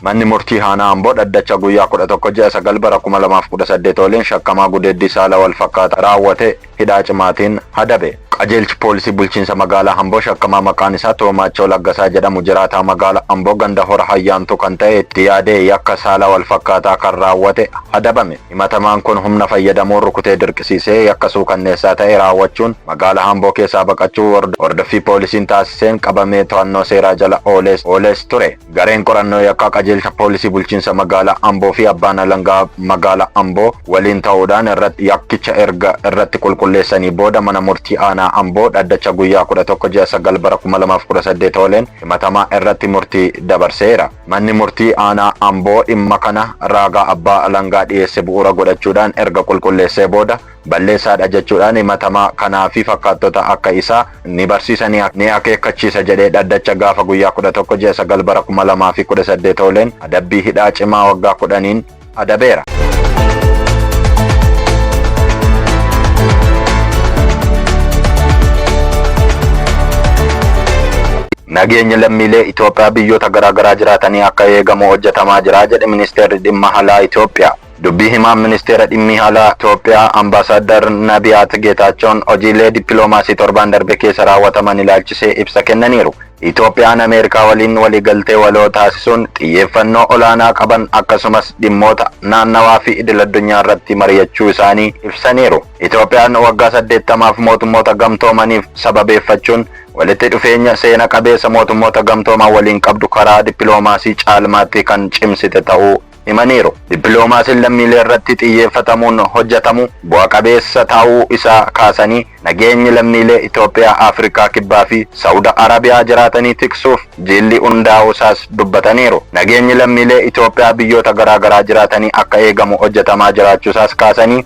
Manni murtii Aanaa Amboo dhaddacha guyyaa 11 ji'a 9 bara 2018 waliin shakkamaa gudeeddii saala wal fakkaataa raawwate hidhaa cimaatiin adabe. Qajeelchi Poolisii Bulchiinsa Magaalaa Amboo shakkamaa maqaan isaa Toomaachoo Laggasaa jedhamu jiraataa magaala Amboo ganda Hora Hayyaantuu kan ta'e itti yaadee yakka saala walfakkaataa kan raawwate adabame. Himatamaan kun humna fayyadamuun rukutee dirqisiisee yakka suukanneessaa ta'e raawwachuun magaala Amboo keessaa baqachuu hordoffii poolisiin taasiseen qabamee to'annoo seeraa jala oolees oolees ture. Gareen qorannoo yakkaa qajeelcha poolisii bulchiinsa magaalaa Amboo fi abbaan alangaa magaalaa Amboo waliin ta'uudhaan irratti yakkicha erga irratti qulqulleessanii booda mana murtii aanaa Amboo dhaddacha guyyaa 11 ji'a 9 bara 2018 ooleen himatamaa irratti murtii dabarseera. Manni murtii aanaa Amboo dhimma kana raagaa abbaa alangaa dhiyeesse bu'uura godhachuudhaan erga qulqulleessee booda balleessaadha jechuudhaan himatamaa kanaa fi fakkaattota akka isaa ni barsiisa ni ni akeekkachiisa jedhee dhaddacha gaafa guyyaa 11 ji'a 9 bara 2018 ooleen adabbii hidhaa cimaa waggaa 10n adabeera. Nageenyi lammiilee Itoophiyaa biyyoota garaagaraa jiraatanii akka eegamu hojjetamaa jira jedhe ministeerri dhimma alaa Itoophiyaa. Dubbii himaan Ministeera Dhimmii Alaa Itoophiyaa Ambaasaaddar Nabiyaat Geetaachoon hojiilee dippiloomaasii torbaan darbe keessa raawwataman ilaalchisee ibsa kennaniiru. Itoophiyaan Ameerikaa waliin waliigaltee waloo taasisuun xiyyeeffannoo olaanaa qaban akkasumas dhimmoota naannawaa fi idil addunyaa irratti mari'achuu isaanii ibsaniiru. Itoophiyaan waggaa saddeettamaaf Mootummoota Gamtoomaniif sababeeffachuun walitti dhufeenya seena qabeessa Mootummoota Gamtooman waliin qabdu karaa dippiloomaasii caalmaatti kan cimsite ta'uu himaniiru. Dippiloomaasiin lammiilee irratti xiyyeeffatamuun hojjatamu bu'a qabeessa taa'uu isaa kaasanii, nageenyi lammiilee Itoophiyaa Afrikaa Kibbaa fi Sa'ud Arabiyaa jiraatanii tiksuuf jiilli hundaa'uu isaas dubbataniiru. Nageenyi lammiilee Itoophiyaa biyyoota garaagaraa jiraatanii akka eegamu hojjatamaa jiraachuu isaas kaasanii,